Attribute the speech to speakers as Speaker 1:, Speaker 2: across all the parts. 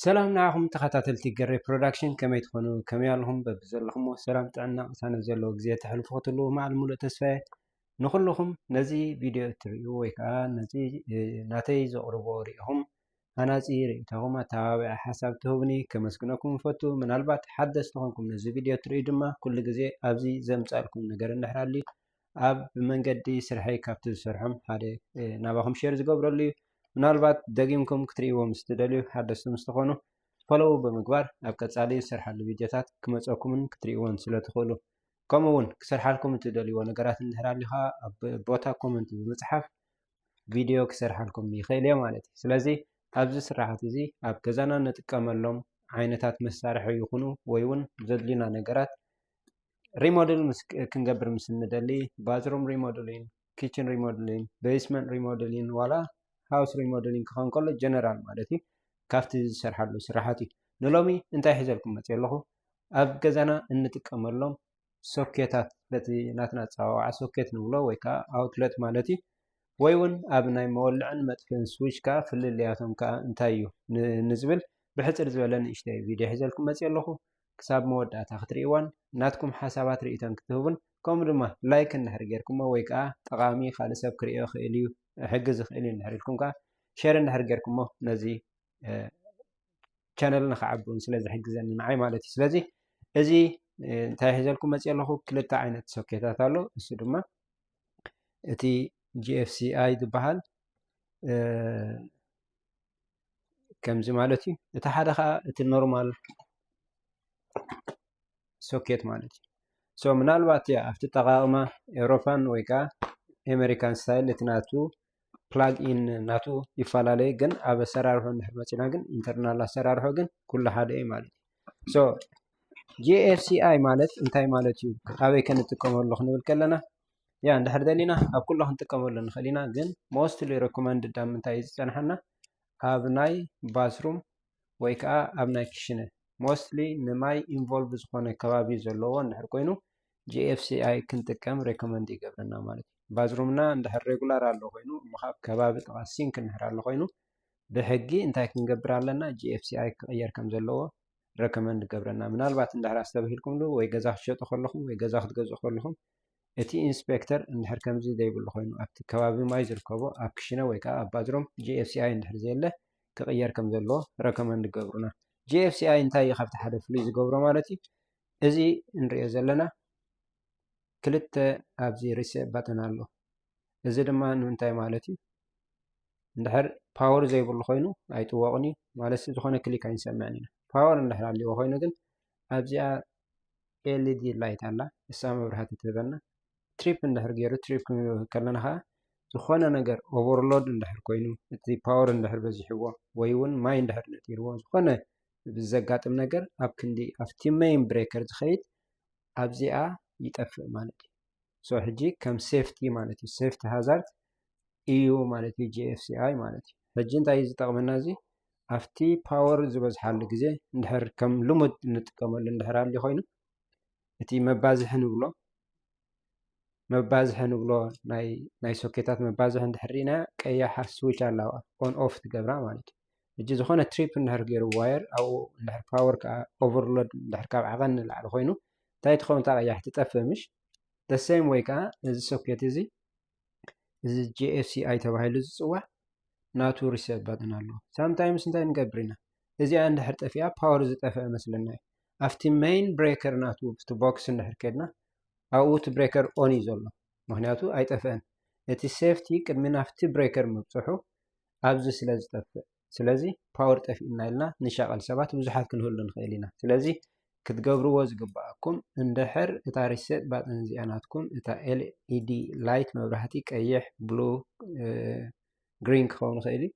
Speaker 1: ሰላም ንዓኹም ተኸታተልቲ ገሬ ፕሮዳክሽን ከመይ ትኾኑ ከመይ ኣለኹም በብዘለኹምዎ ሰላም ጥዕና ቅሳነት ዘለዎ ግዜ ተሕልፉ ክትልዎ መዓል ሙሉእ ተስፋየ ንኹልኹም ነዚ ቪድዮ እትርእዩ ወይ ከዓ ነዚ ናተይ ዘቕርቦ ርኢኹም ሃናፂ ርእይቶኹም ኣተባባዒ ሓሳብ ትህቡኒ ከመስግነኩም እፈቱ ምናልባት ሓደስ ዝኾንኩም ነዚ ቪድዮ እትርእዩ ድማ ኩሉ ግዜ ኣብዚ ዘምፃልኩም ነገር እንድሕር ኣልዩ ኣብ መንገዲ ስርሐይ ካብቲ ዝሰርሖም ሓደ ናባኹም ሼር ዝገብረሉ እዩ። ምናልባት ደጊምኩም ክትርእይዎ ምስ ትደልዩ ሓደስቲ ምስ ትኾኑ ፎሎው ብምግባር ኣብ ቀጻሊ ዝሰርሓሉ ቪድዮታት ክመጸኩምን ክትርእይዎን ስለ ትኽእሉ ከምኡ እውን ክሰርሓልኩም እትደልይዎ ነገራት እንድሕር ኣልዩ ኸኣ ኣብ ቦታ ኮመንት ብምጽሓፍ ቪድዮ ክሰርሓልኩም ይኽእል እየ ማለት እዩ። ስለዚ ኣብዚ ስርሓት እዚ ኣብ ገዛና ንጥቀመሎም ዓይነታት መሳርሒ ይኹኑ ወይ እውን ዘድልዩና ነገራት ሪሞድል ክንገብር ምስ እንደሊ ባዝሩም ሪሞድሊን ኪችን ሪሞድሊን ቤስመንት ሪሞድሊን ዋላ ሃውስ ሪሞድሊን ክኸውን ከሎ ጀነራል ማለት እዩ ካብቲ ዝሰርሓሉ ስራሓት እዩ ንሎሚ እንታይ ሒዘልኩም መፅ ኣለኹ ኣብ ገዛና እንጥቀመሎም ሶኬታት በቲ ናትና ፀዋዋዓ ሶኬት ንብሎ ወይ ከዓ ኣውትለት ማለት እዩ ወይ እውን ኣብ ናይ መወልዕን መጥፍን ስዊች ከዓ ፍልልያቶም ከዓ እንታይ እዩ ንዝብል ብሕፅር ዝበለ ንእሽተይ ቪድዮ ሒዘልኩም መፅ ኣለኹ ክሳብ መወዳእታ ክትሪእዋን ናትኩም ሓሳባት ሪኢቶን ክትህቡን ከምኡ ድማ ላይክ እንድሕር ጌርኩሞ ወይ ከኣ ጠቓሚ ካልእ ሰብ ክሪኦ ይኽእል እዩ ክሕግዝ ይኽእል እዩ እንድሕር ኢልኩም ከኣ ሸር እንድሕር ጌርኩሞ ነዚ ቻነል ንክዓቢ እውን ስለ ዝሕግዘኒ ንዓይ ማለት እዩ ስለዚ እዚ እንታይ ሒዘልኩም መፅእ ኣለኹ ክልተ ዓይነት ሶኬታት ኣሎ እሱ ድማ እቲ ጂኤፍሲኣይ ዝበሃል ከምዚ ማለት እዩ እቲ ሓደ ከዓ እቲ ኖርማል ሶኬት ማለት እዩ ሶ ምናልባት እያ ኣብቲ ጠቃቅማ ኤውሮፓን ወይ ከዓ ኤሜሪካን ስታይል እቲ ናቱ ፕላግ ኢን ናቱ ይፈላለዩ ግን ኣብ ኣሰራርሖ እንድሕር መፂና ግን ኢንተርናል ኣሰራርሖ ግን ኩሉ ሓደ እዩ ማለት እዩ ሶ ጂኤፍሲኣይ ማለት እንታይ ማለት እዩ ኣበይ ከንጥቀመሉ ክንብል ከለና ያ እንድሕር ደሊና ኣብ ኩሉ ክንጥቀመሉ ንኽእል ኢና ግን ሞስትሊ ረኮመንድ ዳ ምንታይ እዩ ዝፀንሓና ኣብ ናይ ባስሩም ወይ ከዓ ኣብ ናይ ክሽነ ሞስትሊ ንማይ ኢንቮልቭ ዝኾነ ከባቢ ዘለዎ እንድሕር ኮይኑ ጂኤፍሲኣይ ክንጥቀም ሬኮመንድ ይገብረና ማለት እዩ ባዝሩምና እንድሕር ሬጉላር ኣሎ ኮይኑ ምኻብ ከባቢ ጥቓ ሲንክ እንድሕር ኣሎ ኮይኑ ብሕጊ እንታይ ክንገብር ኣለና ጂኤፍሲኣይ ክቕየር ከም ዘለዎ ረኮመንድ ገብረና ምናልባት እንድሕር ኣስተብሂልኩምሉ ወይ ገዛ ክትሸጡ ከለኹም ወይ ገዛ ክትገዝኡ ከለኹም እቲ ኢንስፔክተር እንድሕር ከምዚ ዘይብሉ ኮይኑ ኣብቲ ከባቢ ማይ ዝርከቦ ኣብ ክሽነ ወይ ከዓ ኣብ ባዝሮም GFCI እንድሕር ዘየለ ክቕየር ከም ዘለዎ ረከመንድ ገብሩና። GFCI እንታይ እዩ ካብቲ ሓደ ፍሉይ ዝገብሮ ማለት እዩ እዚ እንሪኦ ዘለና ክልተ ኣብዚ ሪሴ ባተን ኣሎ እዚ ድማ ንምንታይ ማለት እዩ እንድሕር ፓወር ዘይብሉ ኮይኑ ኣይጥወቕን እዩ ማለት ዝኾነ ክሊክ ኣይንሰምዕን ኢና ፓወር እንድሕር ኣልዎ ኮይኑ ግን ኣብዚኣ ኤልዲ ላይት ኣላ ንሳ መብራህቲ ትህበና ትሪፕ እንድሕር ገይሩ ትሪፕ ክንብል ከለና ከዓ ዝኾነ ነገር ኦቨርሎድ እንድሕር ኮይኑ እቲ ፓወር እንድሕር በዚሕዎ ወይ እውን ማይ እንድሕር ነጢርዎ ዝኾነ ብዘጋጥም ነገር ኣብ ክንዲ ኣብቲ መይን ብሬከር ዝኸይድ ኣብዚኣ ይጠፍእ ማለት እዩ ሶ ሕጂ ከም ሴፍቲ ማለት እዩ ሴፍቲ ሃዛርድ እዩ ማለት እዩ ጂኤፍሲኣይ ማለት እዩ ሕጂ እንታይ እዩ ዝጠቕመና እዚ ኣብቲ ፓወር ዝበዝሓሉ ግዜ እንድሕር ከም ልሙድ እንጥቀመሉ እንድሕር ኣልዩ ኮይኑ እቲ መባዝሒ ንብሎ መባዝሒ ንብሎ ናይ ሶኬታት መባዝሒ እንድሕር ኢና ቀያሓ ስዊች ኣለዋ ኦን ኦፍ ትገብራ ማለት እዩ እጂ ዝኾነ ትሪፕ እንድሕር ገይሩ ዋየር ኣብኡ እንድሕር ፓወር ከዓ ኦቨርሎድ እንድሕር ካብ ዓቐን ንላዕሊ ኮይኑ እንታይ ትኸውን እታ ቀያሕ ትጠፍእ ምሽ ደሴም ወይ ከዓ ነዚ ሶኬት እዚ እዚ ጂኤፍሲኣይ ተባሂሉ ዝፅዋዕ ናቱ ሪሴት ባጥን ኣሎ ሳምታይምስ እንታይ ንገብር ኢና እዚኣ እንድሕር ጠፊኣ ፓወር ዝጠፍአ መስለና እዩ ኣብቲ መይን ብሬከር ናቱ ብቲ ቦክስ እንድሕር ከድና ኣብኡ እቲ ብሬከር ኦን እዩ ዘሎ ምክንያቱ ኣይጠፍአን እቲ ሴፍቲ ቅድሚ ናፍቲ ብሬከር ምብፅሑ ኣብዚ ስለ ዝጠፍእ ስለዚ ፓወር ጠፊኡና ኢልና ንሻቀል ሰባት ብዙሓት ክንህሉ ንኽእል ኢና ስለዚ ክትገብርዎ ዝግብኣኩም እንድሕር እታ ሪሴት ባጥን እዚኣ ናትኩም እታ ኤልኢዲ ላይት መብራህቲ ቀይሕ ብሉ ግሪን ክኸውን ይኽእል እዩ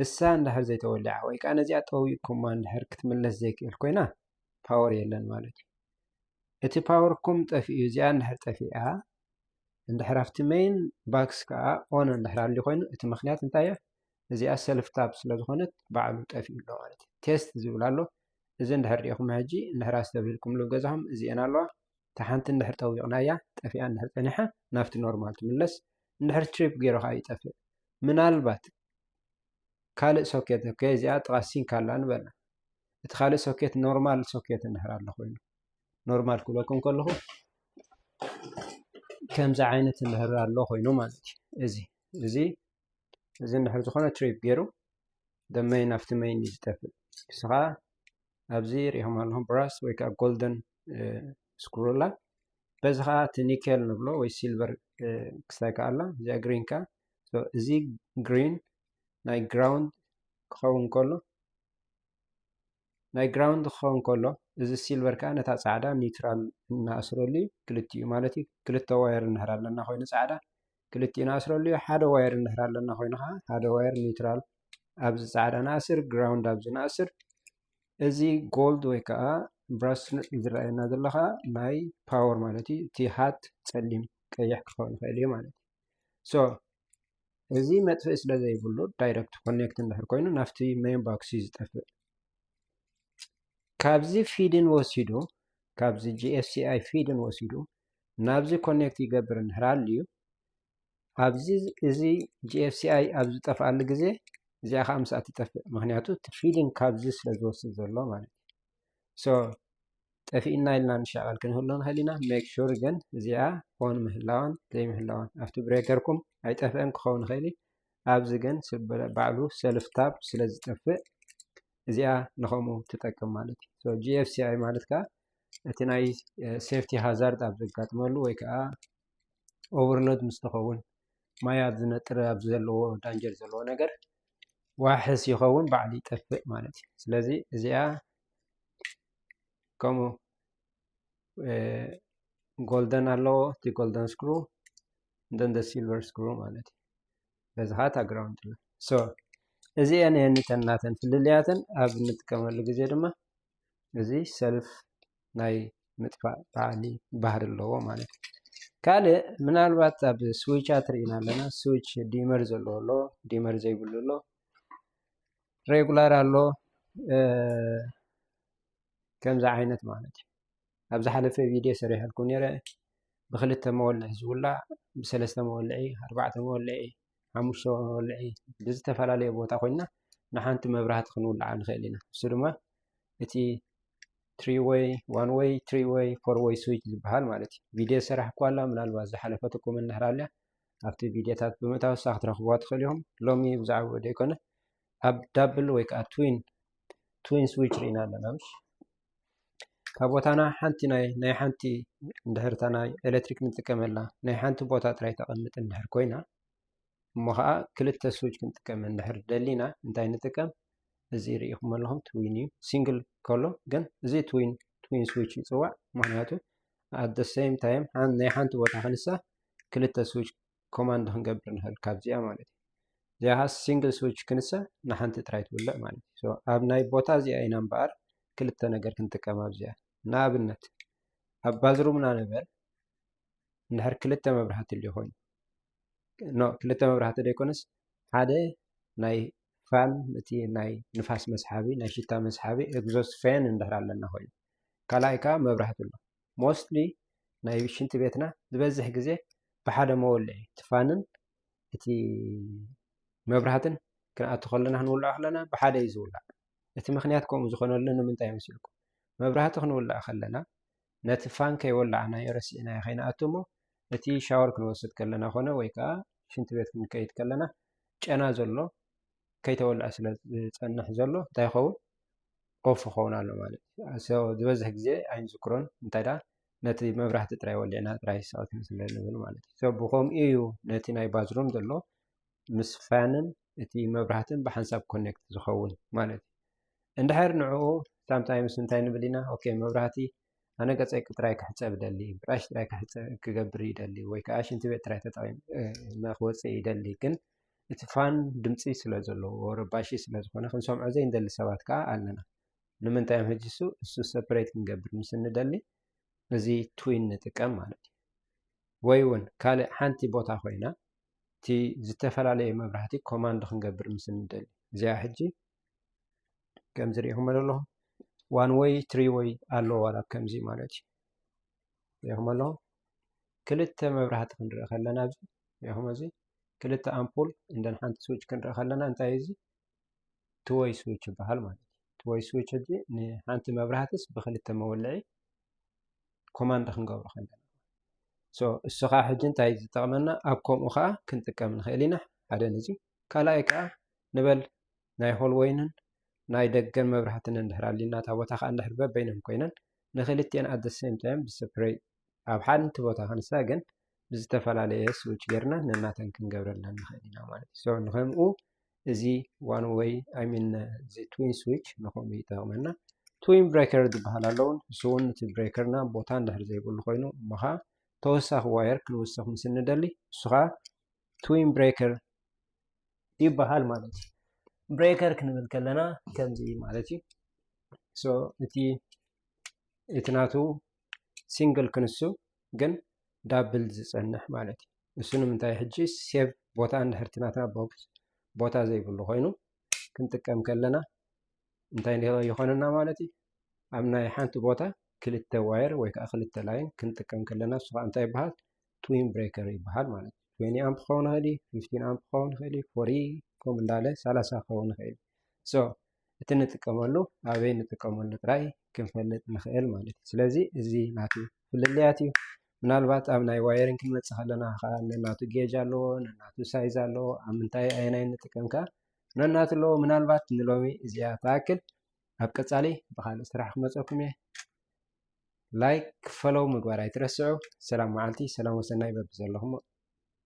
Speaker 1: እሳ እንድሕር ዘይተወሊዓ ወይ ከዓ ነዚኣ ጠዊቅኩማ እንድሕር ክትምለስ ዘይክእል ኮይና ፓወር የለን ማለት እዩ እቲ ፓወርኩም ጠፊኡ እዚኣ እንድሕር ጠፊኣ እንድሕር ኣብቲ ሜይን ባክስ ከዓ ኦን እንድሕር ኣልዩ ኮይኑ እቲ ምክንያት እንታይ እያ እዚኣ ሰልፍ ታብ ስለ ዝኾነት በዓሉ ጠፊኡ ኣሎ ማለት እዩ ቴስት ዝብል ኣሎ እዚ እንድሕር ሪኢኹም ሕጂ እንድሕር ኣስተብሂልኩምሉ ገዛኹም እዚኤን ኣለዋ እታ ሓንቲ እንድሕር ጠዊቕናያ ጠፊኣ እንድሕር ፀኒሓ ናብቲ ኖርማል ትምለስ እንድሕር ትሪፕ ገይሩ ከዓ ይጠፍእ ምናልባት ካልእ ሶኬት እኮ እዚኣ ጥቓ ሲንክ ኣላ ንበላ እቲ ካልእ ሶኬት ኖርማል ሶኬት እንድሕር ኣሎ ኮይኑ ኖርማል ክብለኩም ከለኹ ከምዚ ዓይነት እንድሕር ኣሎ ኮይኑ ማለት እዩ እዚ እዚ እዚ እንድሕር ዝኾነ ትሪፕ ገይሩ ደመይን ኣብቲ መይን እዩ ዝጠፍእ ንስኻ ኣብዚ ሪኦም ኣለኹም ብራስ ወይ ከዓ ጎልደን ስክሮላ በዚ ከዓ እቲ ኒኬል ንብሎ ወይ ሲልቨር ክስታይ ከዓ ኣላ እዚኣ ግሪን ከዓ እዚ ግሪን ናይ ግራውንድ ክኸውን ከሎ ናይ ግራውንድ ክኸውን ከሎ እዚ ሲልቨር ከዓ ነታ ፃዕዳ ኒውትራል እናኣስረሉ እዩ ክልቲኡ ማለት እዩ ክልተ ዋየር እንህር ኣለና ኮይኑ ፃዕዳ ክልቲኡ ንኣስረሉ እዩ ሓደ ዋየር እንህር ኣለና ኮይኑ ከዓ ሓደ ዋየር ኒውትራል ኣብዚ ፃዕዳ ንኣስር ግራውንድ ኣብዚ ንኣስር እዚ ጎልድ ወይ ከዓ ብራስ ዝረኣየና ዘሎ ከዓ ናይ ፓወር ማለት እዩ እቲ ሃት ፀሊም ቀይሕ ክኸውን ይኽእል እዩ ማለት እዩ ሶ እዚ መጥፍኢ ስለ ዘይብሉ ዳይረክት ኮኔክት እንድሕር ኮይኑ ናብቲ ሜን ቦክስ እዩ ዝጠፍእ ካብዚ ፊድን ወሲዱ ካብዚ ጂኤስሲኣይ ፊድን ወሲዱ ናብዚ ኮኔክት ይገብር እንድሕር ኣልዩ ኣብዚ እዚ ጂኤስሲኣይ ኣብ ዝጠፍኣሉ ግዜ እዚኣ ከዓ ምስኣ ትጠፍእ ምክንያቱ እቲ ፊድን ካብዚ ስለ ዝወስድ ዘሎ ማለት እዩ ሶ ጠፊእና ኢልና ንሻቐል ክንህሉ ንኽእል ኢና ሜክ ሹር ግን እዚኣ ኦን ምህላዋን ዘይምህላዋን ኣብቲ ብሬከርኩም ኣይጠፍአን ክኸውን ይኽእል እዩ ኣብዚ ግን ባዕሉ ሰልፍ ታብ ስለ ዝጠፍእ እዚኣ ንኸምኡ ትጠቅም ማለት እዩ ጂኤፍሲኣይ ማለት ከዓ እቲ ናይ ሴፍቲ ሃዛርድ ኣብ ዘጋጥመሉ ወይ ከዓ ኦቨርሎድ ምስ ትኸውን ማይ ኣብ ዝነጥረ ኣብ ዘለዎ ዳንጀር ዘለዎ ነገር ዋሕስ ይኸውን ባዕሉ ይጠፍእ ማለት እዩ። ስለዚ እዚኣ ከምኡ ጎልደን ኣለዎ እቲ ጎልደን ስክሩ እንደንደ ሲልቨር ስክሩ ማለት እዩ። በዚ ከዓ ታግራውንድ ኣሎ። እዚአን የንተናተን ፍልልያተን ኣብ እንጥቀመሉ ግዜ ድማ እዚ ሰልፍ ናይ ምጥፋእ በዓሊ ባህሪ ኣለዎ ማለት እዩ። ካልእ ምናልባት ኣብ ስዊቻት ርኢና ኣለና። ስዊች ዲመር ዘለዎ ኣሎ፣ ዲመር ዘይብሉ ኣሎ፣ ሬጉላር ኣሎ ከምዚ ዓይነት ማለት እዩ። ኣብ ዝሓለፈ ቪድዮ ሰሪሐልኩም ነይረ ብክልተ መወልዒ ዝውላዕ ብሰለስተ መወልዒ ኣርባዕተ መወልዒ ሓሙሽተ መወልዒ ብዝተፈላለየ ቦታ ኮይና ንሓንቲ መብራህቲ ክንውልዓ ንኽእል ኢና እሱ ድማ እቲ ትሪ ወይ ዋን ወይ ትሪ ወይ ፎር ወይ ስዊች ዝበሃል ማለት እዩ ቪድዮ ሰራሕ እኳ ኣላ ምናልባት ዝሓለፈትኩም እንድሕር ኣልያ ኣብቲ ቪድዮታት ብምእታው ሳ ክትረኽብዋ ትኽእል ኢኹም ሎሚ ብዛዕባ ዘይኮነ ኣብ ዳብል ወይ ከዓ ትዊን ትዊን ስዊች ርኢና ኣለና ምሽ ካብ ቦታና ሓንቲ ናይ ናይ ሓንቲ እንድሕርታ ናይ ኤሌክትሪክ ንጥቀመላ ናይ ሓንቲ ቦታ ጥራይ ተቐምጥ እንድሕር ኮይና እሞ ከዓ ክልተ ስዊች ክንጥቀም እንድሕር ደሊና እንታይ ንጥቀም እዚ ርኢኹም ኣለኹም ትዊን እዩ ሲንግል ከሎ ግን እዚ ትዊን ትዊን ስዊች ይፅዋዕ ምክንያቱ ኣደ ሰይም ታይም ናይ ሓንቲ ቦታ ክንሳ ክልተ ስዊች ኮማንድ ክንገብር ንኽእል ካብዚኣ ማለት እዩ እዚኣ ከዓ ሲንግል ስዊች ክንሰ ንሓንቲ ጥራይ ትውልዕ ማለት እዩ ኣብ ናይ ቦታ እዚኣ ኢና እምበኣር ክልተ ነገር ክንጥቀም ኣብዚኣ ንኣብነት ኣብ ባዝሩምና ንበል እንድሕር ክልተ መብራህቲ ል ኮይኑ ኖ ክልተ መብራህቲ ዘይኮነስ ሓደ ናይ ፋን እቲ ናይ ንፋስ መስሓቢ ናይ ሽታ መስሓቢ ኤግዞስ ፌን እንድሕር ኣለና ኮይኑ ካልኣይ ከዓ መብራህቲ ኣሎ ሞስትሊ ናይ ሽንቲ ቤትና ዝበዝሕ ግዜ ብሓደ መወልዒ እቲ ፋንን እቲ መብራህትን ክንኣቱ ከለና ክንውልዖ ከለና ብሓደ እዩ ዝውላዕ እቲ ምክንያት ከምኡ ዝኾነሉ ንምንታይ መስልኩም መብራህቲ ክንውልዕ ከለና ነቲ ፋን ከይወላዕናዮ ረሲዕናዮ ከይንኣቱ እሞ እቲ ሻወር ክንወስድ ከለና ኮነ ወይ ከዓ ሽንቲ ቤት ክንከይድ ከለና ጨና ዘሎ ከይተወልዐ ስለ ዝፀንሕ ዘሎ እንታይ ይኸውን ኦፍ ይኸውን ኣሎ ማለት እዩ። ዝበዝሕ ግዜ ኣይንዝክሮን እንታይ ደኣ ነቲ መብራህቲ ጥራይ ወሊዕና ጥራይ ስዕት ስለ ንብል ማለት እዩ። ሰብ ብከምኡ እዩ ነቲ ናይ ባዝሩም ዘሎ ምስ ፋንን እቲ መብራህትን ብሓንሳብ ኮኔክት ዝኸውን ማለት እዩ። እንድሕር ንዕኡ ሳምታይምስ እንታይ ንብል ኢና ኦኬ መብራህቲ ኣነ ገፀይ ጥራይ ክሕፀብ ይደሊ ብራሽ ጥራይ ክገብር ይደሊ ወይ ከዓ ሽንቲ ቤት ጥራይ ተጠቒመ ክወፅእ ይደሊ ግን እቲ ፋን ድምፂ ስለ ዘለዎ ረባሺ ስለ ዝኾነ ክንሰምዖ ዘይንደሊ ሰባት ከዓ ኣለና ንምንታይ እዮም ሕጂ እሱ እሱ ሰፐሬት ክንገብር ምስ እንደሊ እዚ ትዊን ንጥቀም ማለት እዩ ወይ እውን ካልእ ሓንቲ ቦታ ኮይና እቲ ዝተፈላለየ መብራህቲ ኮማንድ ክንገብር ምስ እንደሊ እዚኣ ሕጂ ከምዚ ሪኢኹም ኣለኹ ዋን ወይ ትሪ ወይ ኣሎ ዋላ ከምዚ ማለት እዩ ሪኢኹም ኣለኹ ክልተ መብራህቲ ክንርኢ ከለና እዚ ሪኢኹም እዚ ክልተ ኣምፑል እንደን ሓንቲ ስዊች ክንርኢ ከለና እንታይ እዚ ትወይ ስዊች ይበሃል ማለት እዩ ትወይ ስዊች እዚ ንሓንቲ መብራህትስ ብክልተ መወልዒ ኮማንድ ክንገብሮ ከለና እሱ ከዓ ሕጂ እንታይ ዝጠቕመና ኣብ ከምኡ ከዓ ክንጥቀም ንኽእል ኢና ሓደ ነዚ ካልኣይ ከኣ ንበል ናይ ሆልወይንን ናይ ደገን መብራህቲ እንድሕር ኣሊና እታ ቦታ ከኣ እንድሕር በበይነን ኮይነን ንክልቲኤን ኣት ዘ ሰም ታይም ብስፕረይ ኣብ ሓንቲ ቦታ ክንሳ ግን ብዝተፈላለየ ስዊች ጌርና ነናተን ክንገብረለን ንኽእል ኢና ማለት እዩ ሰው ንከምኡ እዚ ዋን ወይ ኣይሚን እዚ ትዊን ስዊች ንከምኡ ይጠቕመና ትዊን ብሬከር ዝበሃል ኣለውን እሱ እውን እቲ ብሬከርና ቦታ እንድሕር ዘይብሉ ኮይኑ እሞ ከዓ ተወሳኺ ዋየር ክንውስኽ ምስ እንደሊ እሱ ከዓ ትዊን ብሬከር ይበሃል ማለት እዩ ብሬከር ክንብል ከለና ከምዚ ማለት እዩ ሶ እቲ እቲ ናቱ ሲንግል ክንሱ ግን ዳብል ዝፀንሕ ማለት እዩ እሱ ንምንታይ ሕጂ ሴቭ ቦታ እንድሕርቲ ናትና ቦክስ ቦታ ዘይብሉ ኮይኑ ክንጥቀም ከለና እንታይ ይኾነና ማለት እዩ ኣብ ናይ ሓንቲ ቦታ ክልተ ዋየር ወይ ከዓ ክልተ ላይን ክንጥቀም ከለና እሱ ከዓ እንታይ ይበሃል ትዊን ብሬከር ይበሃል ማለት እዩ ትዌኒ ኣምፕ ክኸውን ይኽእል እዩ ፊፍቲን ኣምፕ ክኸውን ይኽእል እዩ ፎሪ ከምኡ እንዳለ ሰላሳ ክኸውን ይኽእል እዩ ሶ እቲ ንጥቀመሉ ኣበይ ንጥቀመሉ ጥራይ ክንፈልጥ ንኽእል ማለት እዩ ስለዚ እዚ ናቱ ፍልልያት እዩ ምናልባት ኣብ ናይ ዋየሪን ክንመፅእ ከለና ከዓ ነናቱ ጌጅ ኣለዎ ነናቱ ሳይዝ ኣለዎ ኣብ ምንታይ ኣየናይ ንጥቀም ከዓ ነናቱ ኣለዎ ምናልባት ንሎሚ እዚኣ ተኣክል ኣብ ቀፃሊ ብካልእ ስራሕ ክመፀኩም እየ ላይክ ፈለው ምግባር ኣይትረስዑ ሰላም መዓልቲ ሰላም ወሰናይ በብዘለኹሞ።